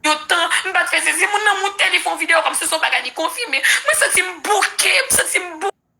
Yon tan, m pa t fè sezi. Moun nan moute, li fè yon videyo kòmsi se yon bagay li konfime. Mwen santi m bouke, m santi m bouke.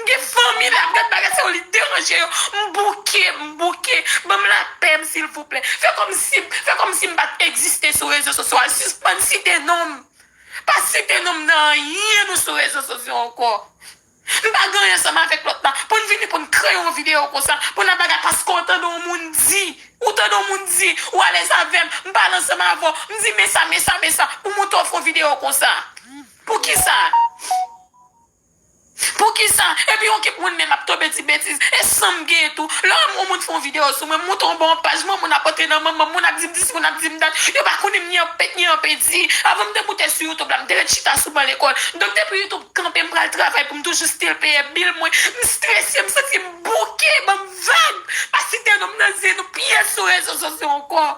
M gen fanmi la m gad bagay sa yo li deranje yo m bouke m bouke banm lapè m silvouplè fè kòmsi m fè kòmsi m pat egziste sou rezo sosyo a sispann site non m pa site non m nan anyen nou sou rezo sosyo ankò m pa gen anyen ansanm avèk lòt la pou n vini pou n kreye yon videyo konsa pou n ap bagay paske w tande yon moun di ou tande yon moun di ou alèz avè m m pale ansanm avè w m di men sa men sa men sa pou m montre w fè yon videyo konsa poukisa. Poukisa? Epi yon kip moun menm ap tonbe di betiz. E san m gen tou. Lè yon moun fè yon videyo sou mwen, m monte yon bò yon paj, manman moun ap antre nan manman m, moun ap di m dis, moun ap di m dat. Yo pa konnen m ni anpèt ni anpedi. Avan m te moute sou YouTube la, m te ret chita sou ban lekòl. Donk depi YouTube kanpe, m pral travay pou m toujou stil peye bil mwen. M strese, m santi m bouke. Ban m vag! Pa site non m nan zye nou, pi ye sou rezo sosyo ankò.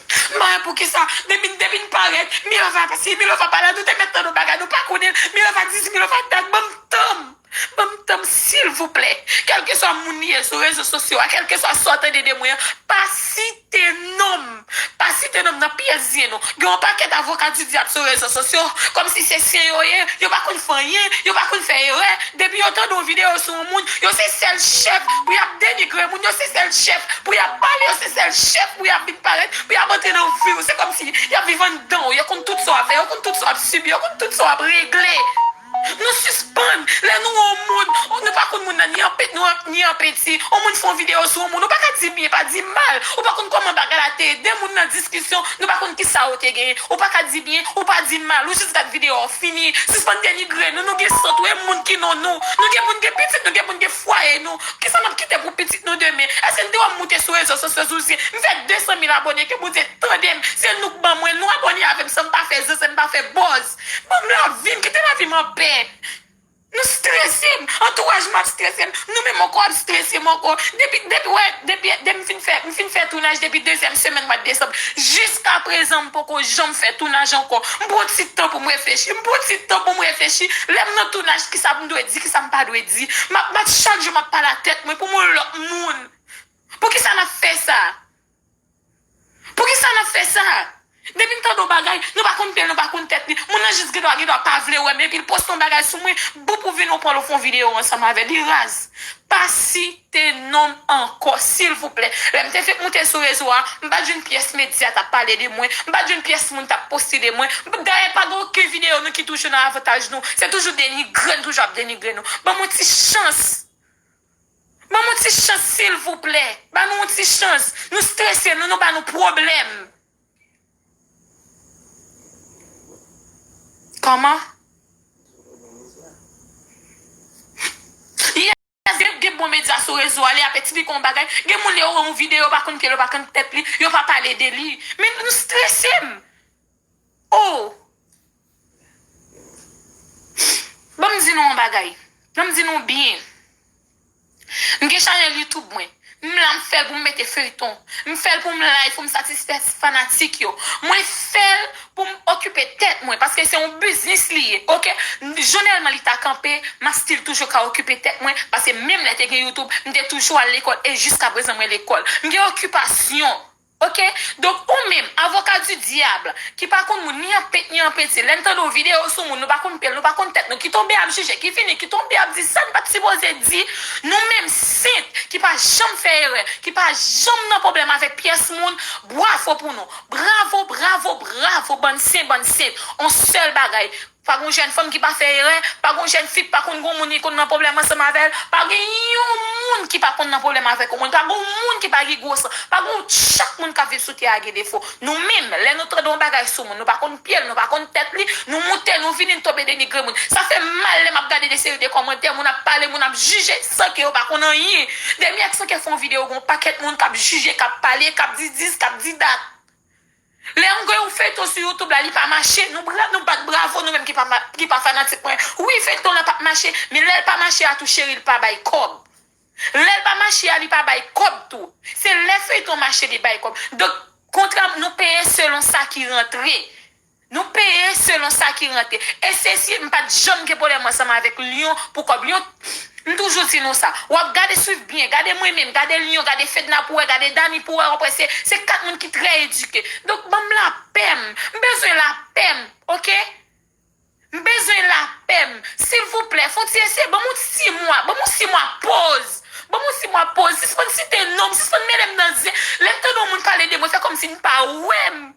Smile poukisa depi depi n parèt milova pa si milova pa la nou te mèt nan nou bagay nou pa konnen milova di si milova dat banm tanm banm tanm silvouplè kèlkeswa moun li ye sou rezo sosyo a kèlkeswa sa w tande de mwen an pa site non m pa site non m nan pyès zye nou gen yon pakèt avoka di dyab sou rezo sosyo kòmsi se sen yo ye yo pa konn fè anyen yo pa konn fè erè depi yo tande yon videyo non moun, yo se sèl chèf pou y ap denigre moun, yo se sèl chèf pou y ap pale, yo se sèl chèf pou y ap vin parèt, pou y ap antre nan vi w. Se kòmsi y ap viv anndan w. Yo konn tout sa w ap fè, yo konn tout sa w ap sibi, yo konn tout sa w ap regle. Nou sispann, lè nou wè yon moun, nou pa konn moun nan ni an pit ni an penti, yon moun fè yon videyo sou yon moun, ou pa ka di byen, pa di mal, ou pa konn kòman bagay la te ye, de moun nan diskisyon, Nou pa konn kisa ou te gen. Ou paka di byen, ou pa di mal, ou jis gad video a ou fini. Sispann denigre nou, nou gen san tou e moun ki non nou. Nou gen poun gen pitit nou gen poun gen fwaye nou. Kisa nap kite pou pitit nou demen. Eske n te wè m moute sou rezo sosyo zouzyen m fè 200 mil abone ke Bondye tandem se nou k ban mwen nou abone avem sanm pa fè zeze m pa fè bòz. Banm lavim kite lavim anpè. M strese m antouraj m ap strese m nou menm ankò ap strese m ankò depi depi wè depi depi m fin fè m fin fè tounaj depi dezyèm semèn mwa desanm jiska prezan m poko janm fè tounaj ankò m pran ti tan pou m reflechi m pran ti tan pou m reflechi lè m nan tounaj kisa m dwe di kisa m pa dwe di m ap m ap chak jou m ap pale a tèt mwen pou m yon lòt moun poukisa n ap fè sa. Poukisa nap fè sa? Depi n tande yon bagay, nou pa konn pye l, nou pa konn tèt li. Moun nan jis gen dwa gen dwa pa vle wè m epi l poste yon bagay sou mwen, boop ou vini ou pran l ou fè yon videyo ansanm avè l. Li raz. Pa site non m ankò silvouplè. Lè m te fenk moute sou rezo a, m pat jwenn pyès medya t ap pale de mwen, m pat jwenn pyès moun t ap poste de mwen. Dayè pa gen oken videyo nou ki toujou nan avantaj nou. Se toujou denigre, nou toujou ap denigre nou. Ban m yon ti chans Ban mwen ti chans silvouplè. Ba nou yon ti chans. Nou strese nou nou ba nou pwoblèm. Kòman? Yes gen gen bon medya sou rezo a li ap esplike yon bagay gen moun lè yo wè yon videyo yo pa konn kèl yo pa konn tèt li yo pa pale de li men nou strese m Oh! Ban m di nou yon bagay. Ban m di nou byen. M gen chanèl YouTube mwen. M la m fè l pou m mete feyton. M fè l pou m live pou m satisfè fanatik yo. Mwen fè l pou m okipe tèt mwen paske se yon biznis li ye ok. Jonèlman li ta kanpe m ap stil toujou ka okipe tèt mwen paske menm lè te gen YouTube m te toujou al lekòl e jiskaprezan mwen lekòl. M gen okipasyon. Ok donk ou menm avoka du diable ki pa konn moun ni an pent ni an penti lèn tande yon video sou moun nou pa konn pyel nou pa konn tèt nou ki tonbe ap jije ki vini ki tonbe ap di sann pat sipoze di nou menm sent ki pa janm fè erè ki pa janm nan problèm avèk pyès moun bwavo pou nou bravo bravo bravo bann sen bann sent on sèl bagay Pa gon jèn fanm ki pa fè erè, pa gon jèn fi k pa konn gon moun li konn nan pwoblèm ansanm avè l, pa gen yon moun ki pa konn nan pwoblèm avèk yon moun, pa gon moun ki pa gen gwo san, pa gon chak moun k ap viv sou tè a gen defo. Nou menm, lè nou tande yon bagay sou moun, nou pa konn pye l, nou pa konn tèt li, nou moute, nou vini, n tonbe denigre moun. Sa fè m mal lè m ap gade de seri de kòmantè, moun ap pale, moun ap jije san ke yo pa konn anyen. Demi ak Sankè fè yon videyo gen yon pakèt moun k ap jije, k ap pale, k ap di dis, k ap di dat. Lè mwen gade yon feyton sou youtube la li pa mache nou pran nou bat bravo nou menm ki pa fanatik mwen wi feyton an pap mache men lèl pa mache a tou cheri li pa bay kòb lèl pa mache a li pa bay kòb tou se lè feyton mache li bay kòb donk kontra nou peye selon sa ki rantre nou peye selon sa ki rantre e sesi mpat janm gen pwoblèm ansanm avèk lion pou kòb lion M toujou di nou sa. Wap gade swiv byen, gade mwen menm, gade Lion, gade Fedna pou wè, gade Dany pou wè wap wè se 4 moun ki trè edike. Donk banm lapè m. M bezwen lapè m ok. M bezwen lapè m. Silvouplè fon ti eseye banm yon ti mwa, banm yon ti mwa poz. Banm yon ti mwa poz. Sispann site non m, sispann mele m nan zen. Lè m tande yon moun pale de mwen fè kòmsi n pa wè m.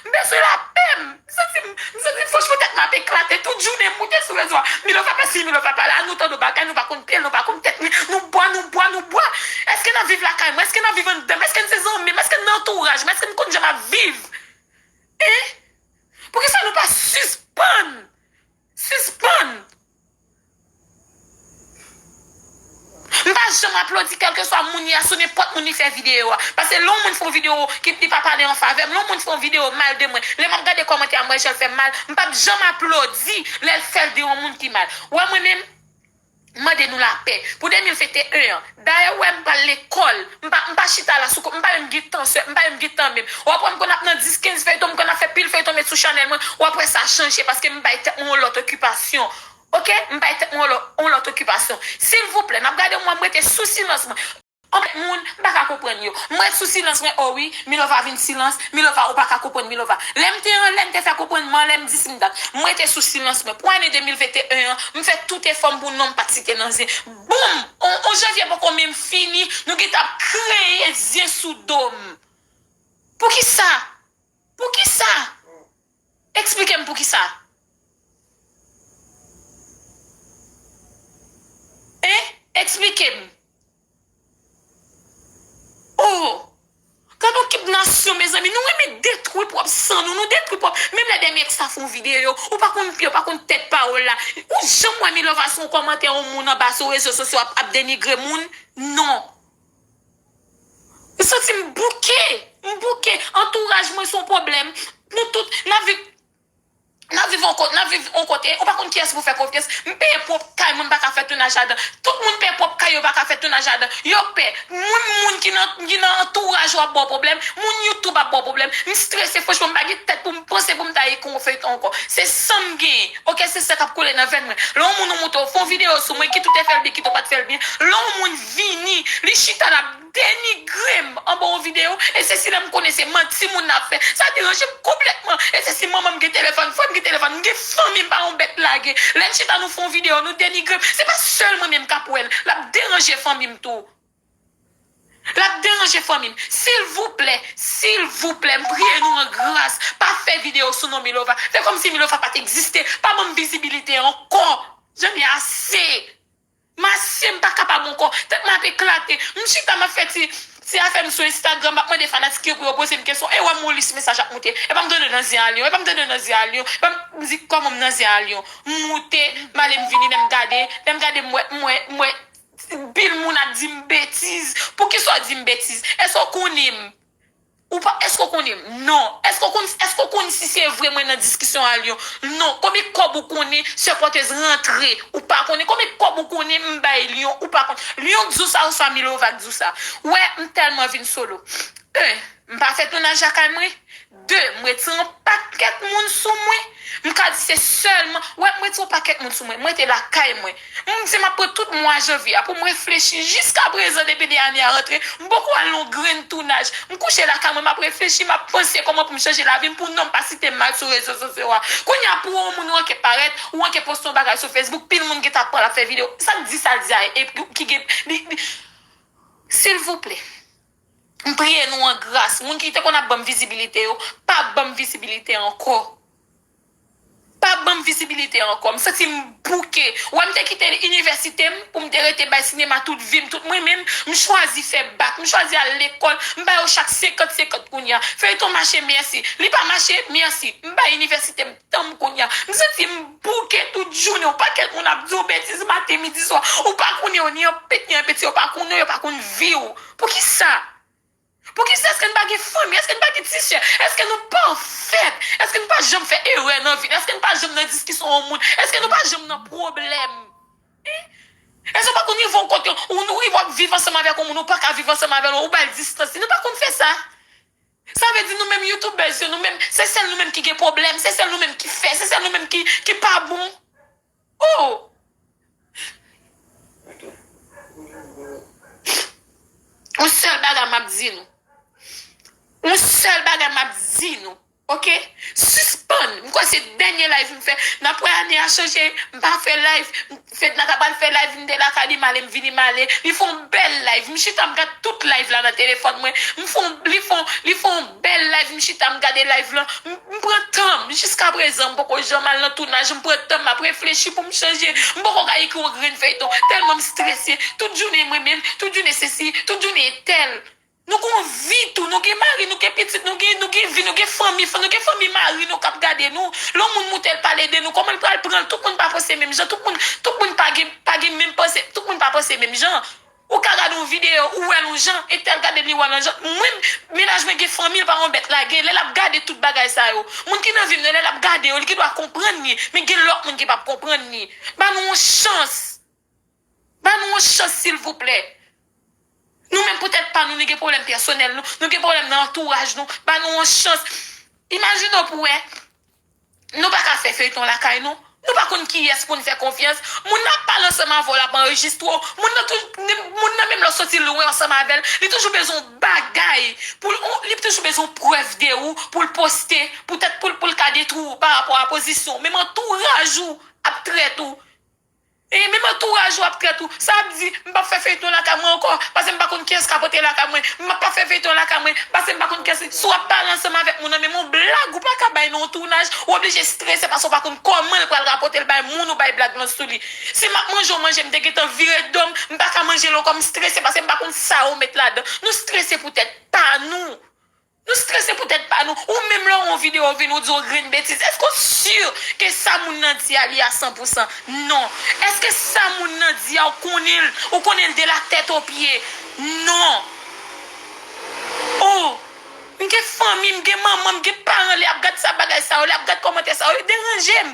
M bezwen lapè m santi m m santi m fò cheveux tèt mwen ap eklate tout jounen m moute sou rezo a Milova pa si Milova pa la nou tande yon bagay nou pa konn pyel nou pa konn tèt li nou bwa nou bwa nou bwa èske nap viv lakay mwen èske nap viv anndan m èske n se zanmi m èske n nan antouraj mwen èske n konn jan map viv hein poukisa nou pa sispann Sispann! M pa janm aplodi kèlkeswa moun li a sou nenpòt moun li fè videyo a. Pase lè yon moun fè yon videyo ki li pa pale an favè m, lè yon moun fè yon videyo mal de mwen, lè m ap gade kòmantè a m wè jan l fè m mal, m pap janm aplodi lè l fè l de yon moun ki mal. Wè mwen menm? M mande nou lapè pou 2021 an. Dayè ou wè m pa lekòl, m pa m pa chita la sou kont, m pa menm gen tan sè, m pa menm gen tan menm. W ap wè m konn ap nan 10, 15 feyton, m konn ap fè pil feyton met sou chanèl mwen, w ap wè sa chanje paske m bay tèt mwen yon lòt okipasyon ok, m bay tèt mwen yon lòt okipasyon. Silvouplè, m ap gade w m wè m rete sou silans mwen. Anmèt moun, m paka konprann yo. M ret sou silans mwen oh wi, Milova vin silans, Milova ou paka konprann Milova. Lè m te anlè m te fè konprann m anlè m di si m dat. M rete sou silans mwen. Pou ane 2021 an, m fè tout efò m pou non m pat site nan zen. Boom! On janvye poko menm fini, nou gentan ap kreye zen sou do m. Poukisa? Poukisa? Eksplike m poukisa? Hein? Eksplike m. Oh! Gadon kip nasyon mezanmi, nou renmen detwi pwòp san nou, nou detwi pwòp, menm lè 2 mi èks la fè yon videyo, ou pa konn pye, ou pa konn tèt pawòl la, ou janm wè Milova sou yon kòmantè yon moun anba sou rezo sosyo ap denigre moun? Non. M santi m bouke, m bouke, antouraj mwen son pwoblèm, nou tout nap viv, nap viv yon kote, nap viv yon kote, ou pa konn kiyès pou fè konfyans, m peye pwòp kay mwen m paka fè tounaj ladan, tout moun peye pwòp kay yo paka fè tounaj ladan, yo pè, moun moun ki nan ki nan antouraj ou ap baw pwoblèm, moun YouTube ap baw pwoblèm, m strese franchman m pa gen tèt poum panse poum ta ekri yon feyton ankò, se sanm genyen ok se san kap koule nan venn mwen, lè yon moun ou moutre ou fon video sou mwen kit ou te fèl byen kit ou pat fèl byen, lè yon moun. vini li chita lap denigrem anba yon video e se si lèm konnen se manti moun nan ap fè sa deranjem konplètman e se si manmanm gen telefòn frèm gen telefòn m gen fanmi m pa yon bèt lage lèn chita nou fè yon video nou denigrem se pa sèl mwen menm kap wèl lap deranje fanmim tou lap deranje fanmim silvouplè silvouplè m priye nou an gras pa fè video sou non milova fè kòmsi milova pat egziste pa banm vizibilite ankò janm ye ase. Masye m pa kapab ankò, tèt mwen ap eklate. M chita m ap fè ti ti afè m sou Instagram, m ap mande fanatik yo pou yo poze m kesyon. E wè m yon lis mesaj ap moute. Epa m tande nan zye a lyon, epa m tande nan zye a lyon, epa m di kòman m nan zye a lyon. M moute, m ale m vini, lè m gade, lè m gade m wè, m wè, m wè pil moun ap di m betiz. Poukisa w di m betiz? Èske w konnen m? Ou pa Eske w konnen m? Non Eske w konn Eske w konn si se vre mwen nan diskisyon a Lyon? Non Konbyen kòb ou konnen sè pòtez rantre? Ou pa konnen Konbyen kòb ou konnen m bay Lyon? Ou pa konnen Lyon k di w sa oswa Milova k di w sa? Ou wè m tèlman vin solo 1. M pa fè tounaj lakay mwen 2. M ret san yon pakèt moun sou mwen M ka di se sèlman Ou wè m ret san yon pakèt moun sou mwen M rete lakay mwen Mwen mdi map pran tout mwa janvye a poum reflechi jiska prezan depi 2 ane a rantre mpoko al non grenn tounaj mkouche lakay mwen map reflechi map panse koman poum chanje lavim pou nonm pa sitem mal sou rezo sosyo a kounye a pou on moun ou anke parèt ou anke poste on bagay sou Facebook pil moun gentan ap pranl ap fè video sak di sal di a epi ki gen li li silvouplè mpriye nou an gras moun ki te konn ap banm vizibilite yo pa banm vizibilite ankò. Pa banm vizibilite ankò. M santi m bouke. Wè m te kite inivèsite m pou m te rete bay sinema tout vi m, tout mwen menm, m chwazi fè bak, m chwazi al lekòl, m ba yo chak senkant senkant kounye a. Feyton mache mèsi. Li pa mache, mèsi. M bay inivèsite m tan m kounye a. M santi m bouke tout jounen. Yon pakèt moun ap di w betiz maten, midi, swa. Ou pa konnen yo ni anpit ni anpit. Si yo pa konnen w, yo pa konn vi w. Poukisa? Poukisa èske n pa gen fanmi? Èske n pa gen ti sè? Èske nou pafèt? Èske nou pa janm fè erè nan vi n? Èske n pa janm nan diskisyon yon moun? Èske nou pa janm nan pwoblèm? Èske ou pa konn rive yon kote, ou rive w ap viv ansanm avèk yon moun, ou pa ka viv ansanm avè l, ou ba l distans li? Nou pa konn fè sa? Sa vle di nou menm youtubèz yo, nou menm, se sèl nou menm ki gen pwoblèm, se sèl nou menm ki fè, se sèl nou menm ki pa bon? Ooh! Yon sèl bagay m ap di nou, yon sèl bagay m ap di nou ok, sispann, m kwè se dènye live m fè, m ap wè ane a chanje, m pa fè live, Fedna ta pral fè live m te lakay li m ale m vini m ale, li fè yon bèl live, m chita m gad tout live la nan telefòn mwen, m fè yon, li fè yon, li fè yon. Bel live m chita m gade live lan m pran tanm jiska prezan m poko janm al nan tounaj m pran tanm map reflechi poum chanje m poko ka ekri yon grenn feyton telman m strese tout jounen mwen menm tout jounen sesi tout jounen etèl nou gon vi tou nou gen mari nou gen pitit nou gen nou gen vi nou gen fanmi nou gen fanmi mari nou kap gade nou lè yon moun moutel pale de nou komanl pral pranl tout moun pa panse menm jan tout moun tout moun pa gen pa gen menm panse tout moun pa panse menm jan. Ou ka gade yon video ou wèl yon jan epi al gadel miwa nan janl mwen mennaj mwen gen fanmi l pa yon bèt lage lè lap gade tout bagay sa yo moun ki nan vim nan lè lap gade yo li gendwa konprann li men gen lòt moun ki pap konprann li ba nou yon chans ba nou yon chans silvouplè nou menm pou tèt pa nou nou gen pwoblèm pèsonèl nou nou gen pwoblèm nan antouraj nou ba nou yon chans imajine w pou wè Nou paka fè feyton lakay nou? Nou pa konn kiyès poun fè konfyans? Moun nan ap pale ansanm avèw lap anrejistre w, moun nan tou moun nan menm lè w soti lwen ansanm avèl li toujou bezwen yon bagay poul on li toujou bezwen yon prèv de ou poul poste poutèt poul poul ka detwi w pa rapò a pozisyon w menm antouraj ou ap trèt ou E menm antouraj ou ap trèt ou. Sa ap di, m p ap fè feyton lakay mwen ankò, pase m pa konn kiyès k ap antre lakay mwen. M ap pa fè feyton lakay mwen, pase m pa konn kiyès. Si w ap pale ansanm avèk moun nan menm yon blag ou pa ka bay nan yon tounaj, ou oblije strese pase w pa konn kòman l pral rapòte l bay moun ou bay blag lan sou li. Si m ap manje yon manje m te gentan vire do m, m pa ka manje l ankò, m strese pase m pa konn sa yo met ladan. Nou strese pou tèt pa nou. Nou strese pou tèt pa nou. Ou menm lè w wè yon videyo ou vin ou di yon grenn betiz, èske w sur ke sa moun nan di a li a san pou san? Non. Èske sa moun nan di a ou konnen l, ou konnen l de la tèt o pye? Non. Oh! M gen fanmi, m gen manman, m gen paran lè y ap gad sa bagay sa yo, lè y ap gad kòmantè sa yo, yo deranje m.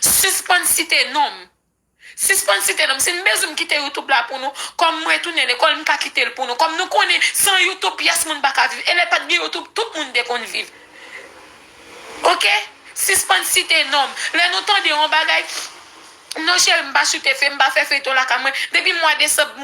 Sispann site non m. Sispann site non m. Si n bezwen m kite youtube la pou nou, kòm m retounen lekòl m ka kite l pou nou. Kòm nou konnen san youtube pyès moun pa ka viv e lè pa t gen youtube tout moun te konn viv. Ok. Sispann site non m. Lè nou tande yon bagay, non cheri m pa sou TF, m pa fè feyton lakay mwen. Depi mwa desanm.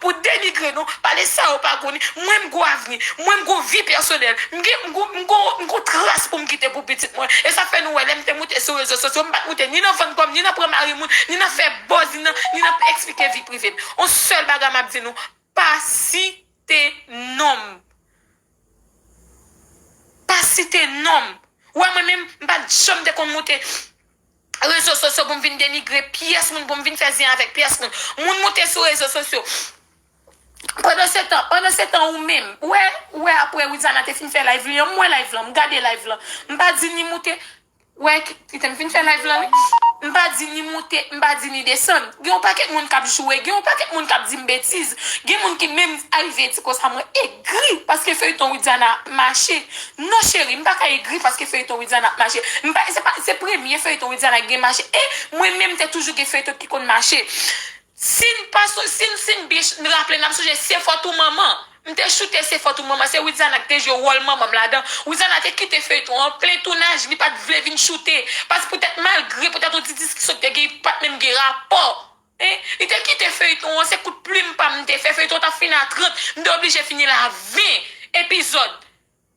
Pou denigre nou, pale sa yo pa konnen, mwen m gou avni, mwen m gou vi pèsonèl, m gen, m gou, m gou, m gou tras pou m kite pou pitit mwen. E sa fè nou wè lè m te moute sou rezo sosyo, m pa t moute ni nan vann kò m, ni nan pran mari moun, ni nan fè buzz, ni nan, ni nan eksplike vi prive m. On sèl bagay m ap di nou, pa site non m. Pa site non m. Ou wè mwen menm, m pa t janm te konn moute. rezo sosyo pou m vin denigre pyès moun, pou m vin fè zen avèk pyès moun. Moun moute sou rezo sosyo. Pandansetan, pandansetan ou menm, ou wè, ou wè apre Widiana te fin fè live li an, m wè live lan, m gade live lan. M pa di ni moute, ou wè, kite m fin fè live lan wi. M pa di ni moute, m pa di ni desann. Gen yon pakèt moun k ap joure, gen yon pakèt moun k ap di m betiz. Gen moun ki menm arive di konsa mwen, eg. Egri paske feyton widiana ap mache non cheri m paka egri paske feyton widiana ap mache m pa se pa se premye feyton widiana ki gen mache e mwen menm te toujou gen feyton ki konn mache sin pa son sin sin byen ch raple nap sonje se fòt ou manman m te choute se fòt ou manman se widiana ki te jwe wòl manman m ladan widiana te kite feyton an plen tounaj li pat vle vin choute pask poutèt malgre poutèt yon ti diskisyon ki te gen yo pat menm gen rapò. Hein li te kite feyton an se kout plim pam m te fè feyton an tap fini a 30 m te oblije fini l a 20 epizòd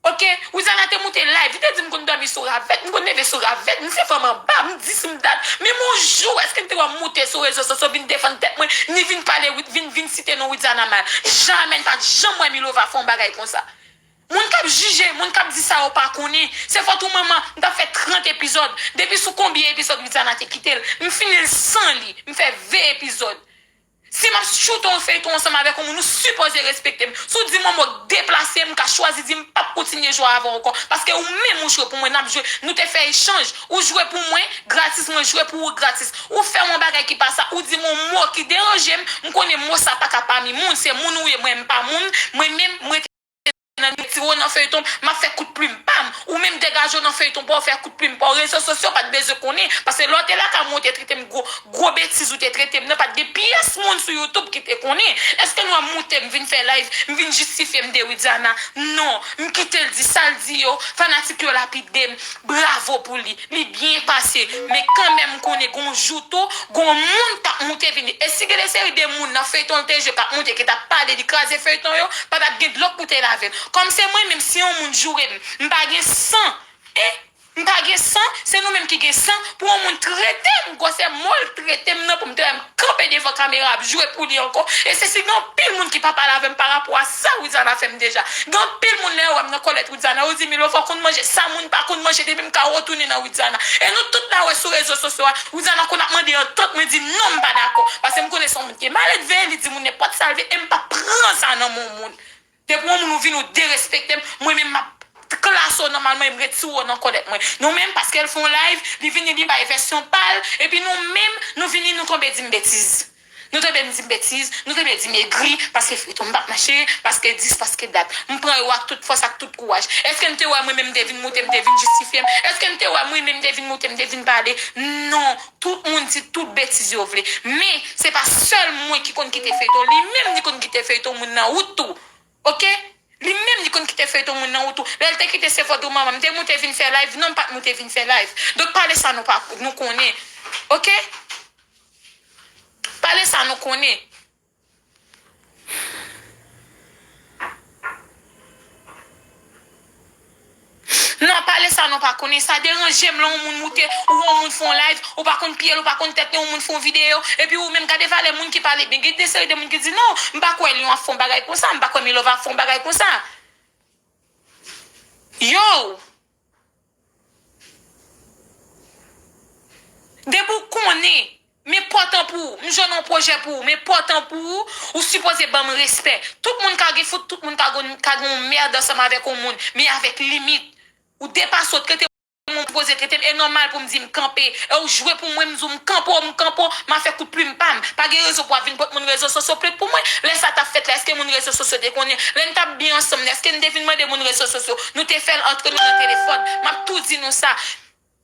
ok Rouzana te moute live li te di m konn dòmi sou ravèt m konn leve sou ravèt m se fanm anba m di si m ta menm on jou èske m te wè m moute sou rezo soso vin defann tèt mwen ni vin pale vin vin site non Rouzana mal jamè m pat janm wè Milova fè on bagay konsa Moun kap jije, moun kap di sa yo pa konnen, se fòt ou manman, m tap fè 30 epizòd, depi sou konbyen epizòd Widiana te kitel, m finil san li, m fè 20 epizòd. Si map tchoute yon feyton ansanm avèk yon moun ou sipoze respektem, si w dim yon mo k deplase m ka chwazi di m pap kontinye jwe avèw ankò, paske ou menm ou jwe pou mwen nap jwe, nou te fè echanj, ou jwe pou mwen gratis mwen jwe pou ou gratis, ou fèm yon bagay ki pa sa, ou dim yon mo ki deranjem, m konnen mo sa paka pami moun, se moun ou ye mwen m pa moun, mwen menm, m rete. nan ni ti wou nan feyton m map fè kout plim pam ou menm degage w nan feyton paw fè kout plim paw rezo sosyo pat bezwen konnen pase lè w te lakay mwen ou te trete m gwo gwo betiz ou te trete m nan pat gen pyès moun sou youtube ki te konnen eske nou wè m moute m vin fè live m vin jistifye m de widiana non m kite l di sa l di yo fanatik yo lapide m bravo pou li. Li byen pase men kanmenm m konnen gon jou tou gon moun kap moute vini e si gen de seri de moun nan feyton l te jwe kap moute ki tap pale li kraze feyton yo pa tap gen dlo k pou te lave l kòm se mwen menm si yon moun joure m m pa gen san hein m pa gen san se nou menm ki gen san pou yon moun trete m gwosè mo l trete m nan pou m te wè m kanpe devan kamera ap joure pou li ankò e se si gen anpil moun ki pap al avè m pa rapò a sa Louisana fè m deja gen anpil moun lè yo wè m nan kòlèt Widiana ou di Milo fò konn manje sa moun pa konn manje depi m ka retounen nan Widiana e nou tout na wè sou rezo sosyo a Widiana konn ap mande antant mwen di non m pa dakò pase m konnen son moun ki maledve li di moun nenpòt sa l vle e m pap pran sa nan men w moun depi w moun ou vin ou derespekte m mwen menm map klase w nan mal mwen e m retire w nan kòlèt mwen nou menm paske l fon live li vini li bay vèsyon pa l epi nou menm nou vini nou tonbe di m betiz Nou te byen di m betiz, nou te byen di m egri, paske feyton m pa t mache, paske dis, paske dat. M pran yo ak tout fòs, ak tout kouraj. Èske n te wè mwen menm m te vin moute, m te vin jistifye m? Èske n te wè mwen menm m te vin moute, m te vin pale? Non! Tout moun di tout betiz yo vle. Men, se pa sèl mwen ki konn kite feyton, li menm li konn kite feyton moun nan wout tou. Ok Li menm li konn kite feyton moun nan ou tou lèl te kite se fòt ou manman m te moute vin fè live non m pat moute vin fè live donk pale sa nou pa nou konnen ok pale sa nou konnen. Nan pale sa nou pa konnen sa deranjem lè yon moun moute ou yon moun fon live ou pa konn pyel ou pa konn tèt li yon moun fon video epi ou menm gade valè moun ki pale byen gen de seri de moun ki di non m pa kwè lion ap fon bagay konsa m pa kwè milova ap fon bagay konsa yow depi ou konnen Men pòt an pou ou. M jwenn yon pwojè pou ou. Men pòt an pou ou. Ou sipoze ban m respè. Tout moun ka gen fout, tout moun ka gen yon merd ansanm avèk yon moun. Men avèk limit. Ou depase w, trete m ou sipoze trete m. E nòmal pou m di m kanpe. E ou jwe pou mwen, m di w m kanpe w, m kanpe w. M a fè kout plim pa m. Pa gen rezon pou w ap vin pot moun rezo sosyo plet pou mwen. Lè sa t ap fèt la, èske moun rezo sosyo te konnen? Lè n t ap byen ansanm la, èske n te vin mande moun rezo sosyo? Nou te fè l antre nou nan telefòn. M ap tou di nou sa.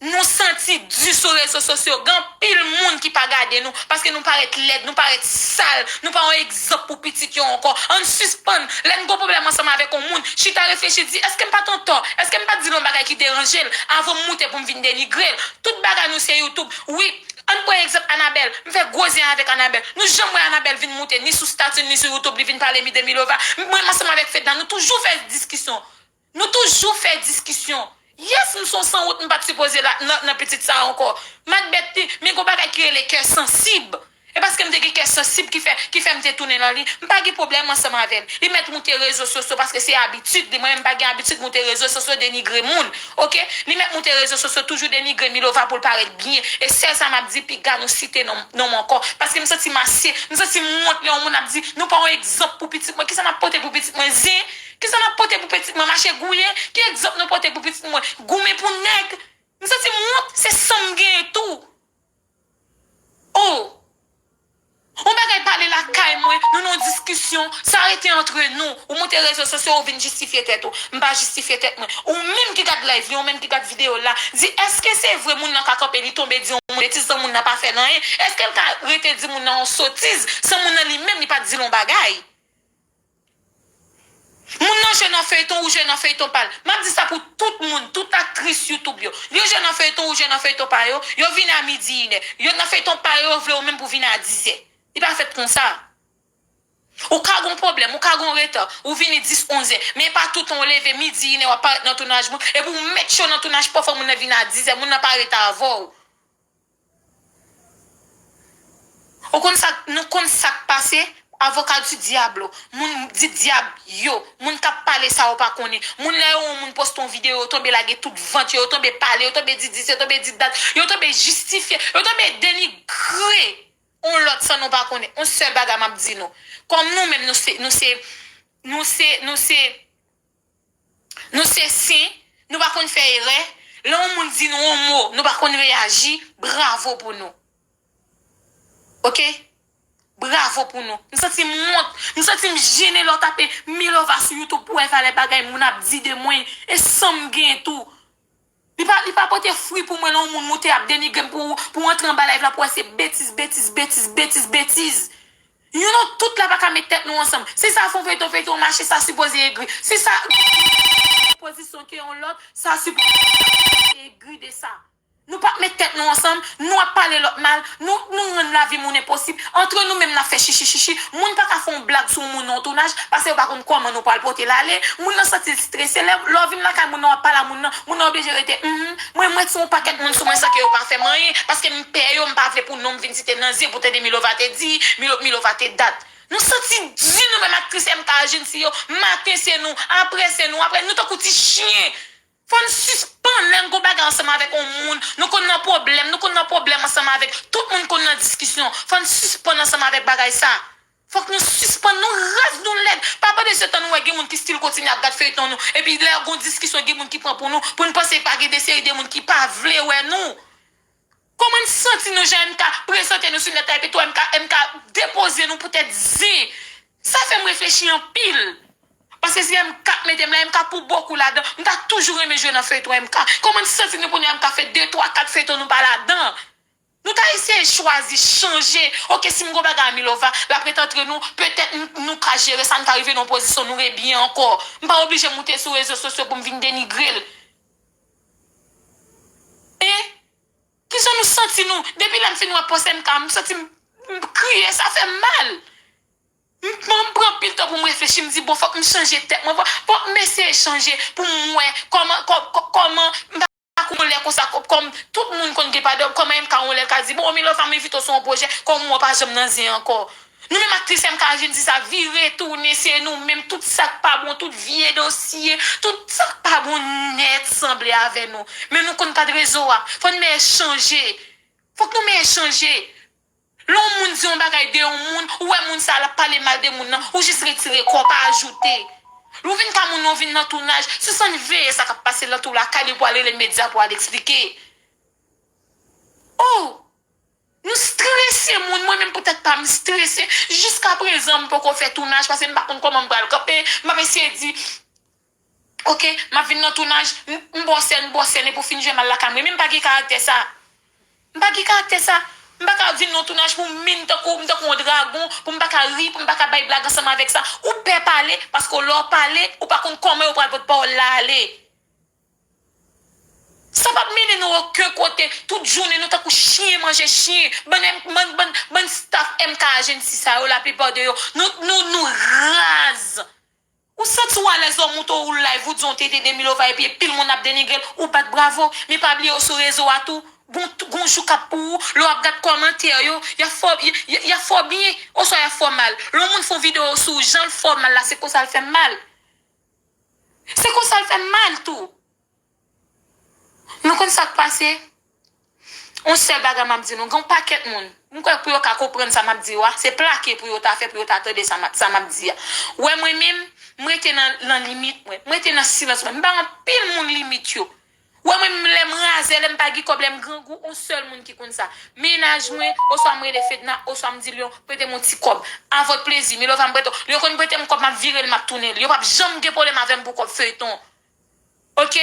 Nou santi di sou rezo sosyo gen anpil moun ki pa gade nou paske nou parèt lèd, nou parèt sal, nou pa yon egzanp pou pitit yo ankò. Ann sispann, lè n gen yon pwoblèm ansanm avèk yon moun, chita reflechi di, èske m pa t antò? Èske m pa t di l yon bagay ki deranje l avan m moute pou m vin denigre l? Tout bagay nou se youtube. Wi, ann pran egzanp Anabèl. M fè gwo zen avèk Anabèl. Nou janm wè Anabèl vin moute ni sou stati l ni sou youtube li vin pale m de Milova. Mwen ansanm avèk Fedna nou toujou fè diskisyon. Nou toujou fè diskisyon. Yes m son sanwont m pat sipoze la nan pitit sa anko Macbeth t men gon bagay ki rele kè sansib e paskem te gen kè sansib ki fè ki fèm te tounen nan li m pa gen problèm ansanm avèl li mèt moute rezo sosyo paske se abitid li mwen menm m pa gen abitid moute rezo sosyo denigre moun ok li mèt moute rezo sosyo toujou denigre Milova poul parèt byen e sèl sa map di piga nou site non nonm anko paske m santim ase m santim wont lè yon moun ap di nou pa yon egzanp pou pitit mwen kisa map pote pou pitit mwen zen Kisa nap pote pou petit mwen mache gouye ki egzanp nou pote pou pitit mwen goumen pou nèg m santi m wont se sanm genyen tou oh on bagay pale lakay mwen nou nan yon diskisyon sa rete antre nou ou moute rezo sosyo ou vin jistifye tèt ou m pa jistifye tèt mwen ou menm ki gad live li ou menm ki gad video la di eske se vre moun nan ka kanpe li tonbe di yon moun betiz san moun nan pa fèl anyen eskel ka rete di moun nan yon sotiz san moun nan li menm li pat dil yon bagay. Moun nan jwe nan feyton ou jwe nan feyton pal map di sa pou tout moun tout aktris YouTube yo yo jwe nan feyton ou jwe nan feyton pa yo yo vini a midi inè yo nan feyton pa yo yo vle ou menm pou vini a dizè li pa fèt konsa ou ka gon problèm ou ka gon reta ou vini dis onzè men epa toutan ou leve midi inè wap parèt nan tounaj moun epi ou met cho nan tounaj pafwa moun nan vini a dizè moun nan pa reta avèw. Ou konn sak nou konn sak pase avocat du diablo moun di dyab yo moun kap pale sa yo pa konnen moun lè yo wè yon moun poste yon video yo tonbe lage tout vant yo yo tonbe pale yo tonbe di dis yo tonbe di dat yo tonbe jistifye yo tonbe denigre yon lòt san nou pa konnen yon sèl bagay map di nou kòm nou menm nou se nou se nou se nou se Nou se sen, nou pa konn fè erè, lè yon moun di nou yon mo, nou pa konn reyaji, bravo pou nou. Ok. Bravo pou nou. M santi m wont, m santi m jennen lè w tape Milova sou youtube pou wè valè bagay moun ap di de mwen e san m gen tou. Li pa li pa pote fri pou mwen lè yon moun moute ap denigrem pou pou antre anba live la pou wè se betiz betiz betiz betiz betiz yon nou tout la paka met tèt nou ansanm si sa fon feyton feyton mache sa sipoze egri si sa pozisyon ke yon lòt sa sipoze egri de sa nou pap met tèt nou ansanm Nou ap pale lòt mal, nou nou rann lavi moun enposib, antre nou menm n ap fè chichi chichi, moun pa ka fè yon blag sou yon moun nan yon tounaj, pase yo pa konn kòman nou pral pote l ale, moun nan santi l strese, lè lè w vin lakay moun nan w ap pale a moun nan, moun nan oblije rete humm, mwen mèt sou yon pakèt moun sou mwen san ke yo pa fè m anyen, paske m pè yo, m pa vle pou non m vin site nan zye pou tande Milova te di, Milo Milova te dat. Nou santi di nou menm aktris MK a jinn si yo, maten se nou, aprè se nou, aprè nou tankou ti chyen! Fòn sispann lè n gon bagay ansanm avèk on moun nou konn nan pwoblèm nou konn nan pwoblèm ansanm avèk tout moun konn nan diskisyon fòn sispann ansanm avèk bagay sa fòk nou sispann nou raz nou lèd pa pandan se tan nou wè gen moun ki stil kontinye ap gad feyton nou epi lè gon diskisyon gen moun ki pran pou nou pou n panse pa gen de seri de moun ki pa vle wè nou Koman n santi nou jan MK prezante nou sou nèt la epi tou MK MK depoze nou pou tèt zen sa fè m reflechi anpil paske se MK k mete m la MK pou bokou ladan m ta toujou renmen jwe nan feyton MK koman n santi nou pou nou MK fè de twa kat feyton nou pa ladan nou ta eseye chwazi chanje ok si m gon bagay a Milova l ap ret antre nou petèt n nou ka jere sa n ka rive nan yon pozisyon nou re byen ankò m pa oblije moute sou rezo sosyo pou m vin denigre l e. Kijan nou santi nou depi lèm fin wè post MK m santim m kriye sa fèm mal m pran anpil tan poum reflechi m di bon fòk m chanje tèt mwen fòk m eseye chanje poum wè kòman kòman m pa konn yon lè konsa kòm tout moun konn gen pa de kòman MK yon lè l ka di bon milova m envite w sou yon pwojè kòm ou an pa janm nan zen ankò Nou menm aktris MK a jwenn di sa vire tounen se nou menm tout sak pa bon tout vye dosye tout sak pa bon nèt sanble avè nou men nou konn kad rezo a fò n mèyè chanje fòk nou mèyè chanje lè yon moun di yon bagay de yon moun ou wè moun sa lap pale mal de moun nan ou jis retire kòw pa ajoute lè w vin ka moun nan w vin nan tounaj sispann veye sa kap pase lan tou lakay li pou al rele medya pou al eksplike oh. Nou strese moun, mwen menm pou tèt pam m strese, jiska prezan m poko fè tounaj pase m pa konn kòman m pral kanpe, m ap eseye di ok m ap vin nan tounaj, m bo sèn m bo sèn epi w fin jwenn m al lakay m renmen m pa gen karaktè sa, m pa gen karaktè sa, m pa ka vin nan yon tounaj pou m min tankou m tankou yon dragon pou m pa ka ri pou m pa ka bay blag ansanm avèk sa, ou pè pale paske lè w pale ou pa konn kòman yo pral pot pawòl la ale. Sa pap mennen nou oken kote, tout jounen nou tankou chyen manje chyen, bann M bann bann bann staff MK agency sa yo la plupart de yo nou nou nou raz. Ou santi w alèz lè w monte w live ou di yon tete de milova epi pil moun ap denigre l ou bat bravo men pa bliye yo sou rezo a tou gon gon jou kap pou ou lè wap gad kòmantè yo yap fè w yap fè w byen oswa yap fè w mal lè yon moun fè yon video sou w jan l fè w mal la se konsa l fè mal Se konsa l fè m mal tou. Nou konn sa k pase? Yon sèl bagay m ap di nou, gen yon pakèt moun, m kwè pou yo ka konprann sa m ap di yo a, se plake pou yo ta fè pou yo ta tande sa m ap di a. Wè mwen menm, m rete nan limit mwen. M rete nan silans mwen. M bay anpil moun limit yo. Wè mwen menm lèm razè lèm pa gin kòb lèm grangou on sèl moun ki konn sa mennaj mwen oswa m rele fedna oswa m di lion pretem on ti kòb avk plezi milova m prete w lion konn pretem kòb map virel map tounenl yo pap janm gen pwoblèm avèm pou kòb feyton ok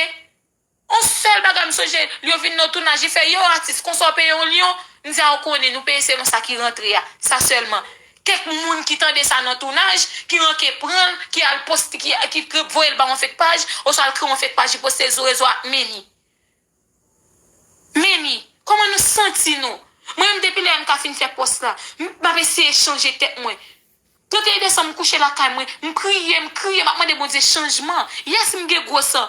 on sèl bagay m sonje lion vin nan tounaj li fè yow atis konsa w peye w lion m di a ou konnen nou peye selon sa ki rantre a sa sèlman Kèk moun ki tande sa nan tounaj, ki ranke pran l, ki al poste, ki voye l ba yon fek paj, oswa l kreye yon fek paj li poste l sou rezo a, Meni. Meni, kòman nou santi nou? Mwen menm depi lè MK fin fè pòs la, m ap eseye chanje tèt mwen. 31 desanm m kouche lakay mwen, m priye, m kriye, m ap mande Bondye chanjman. Yes m gen gwo san.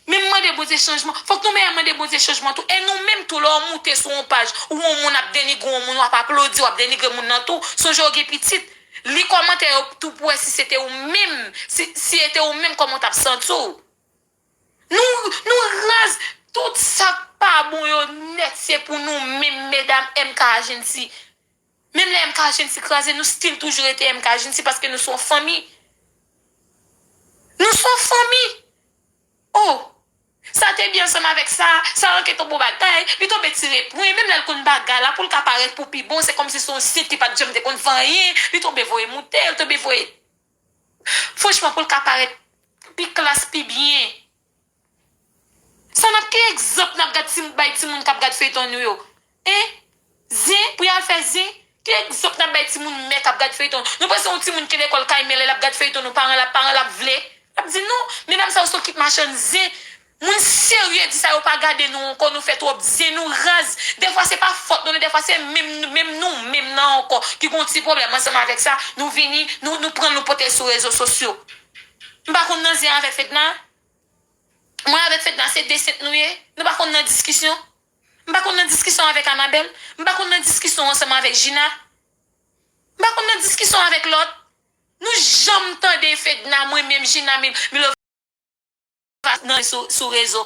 Menm mande Bondye chanjman, fòk nou mèyè mande Bondye chanjman tou. E nou menm tou lè w moute sou yon paj ou wè yon moun ap denigre yon moun wap aplodi wap denigre moun nan tou, sonje w gen pitit, li kòmantè yo tou pou wè si se te ou menm, si si e te ou menm kòman w tap santi w. Nou nou raz, tout sak pa bon yo nèt se pou nou menm medam MK Agency Menm lè MK Agency kraze nou still toujou rete MK Agency paske nou son fanmi. Nou son fanmi. Oh Sa te byen ansanm avèk sa, sa manke ton bon bagay, li tonbe tire pwen, menm lè l konn bagay la pou l ka parèt pou pi bon se kòmsi se yon sit ki pat janm te konn fè anyen, li tonbe voye moute, li tonbe voye Franchman pou l ka parèt pi klas, pi byen. Sa nap ki egzanp nap gad ti bay ti moun kap gad feyton nou yo hein zen pou yal fè zen ki egzanp nap bay ti moun mè kap gad feyton nou panse yon ti moun ki lekòl kay mè lè lap gad feyton nou paran lap paran lap vle lap di nou medam sa yo son kit machann zen moun serye di sa yo pa gade nou ankò nou fè twòp zen nou raz dèfwa se pa fòt nou dèfwa se menm nou menm nou menm nan ankò ki gon ti pwoblèm ansanm avèk sa nou vini nou nou pranl nou potel sou rezo sosyo M pa konn nan zen avè fedna mwen avèk fedna se de sent nou ye nou pa konn nan diskisyon m pa konn nan diskisyon avèk anabèl m pa konn nan diskisyon ansanm avèk jina m pa konn nan diskisyon avèk lòt nou janm tande fedna mwen menm jina milova nan sou rezo.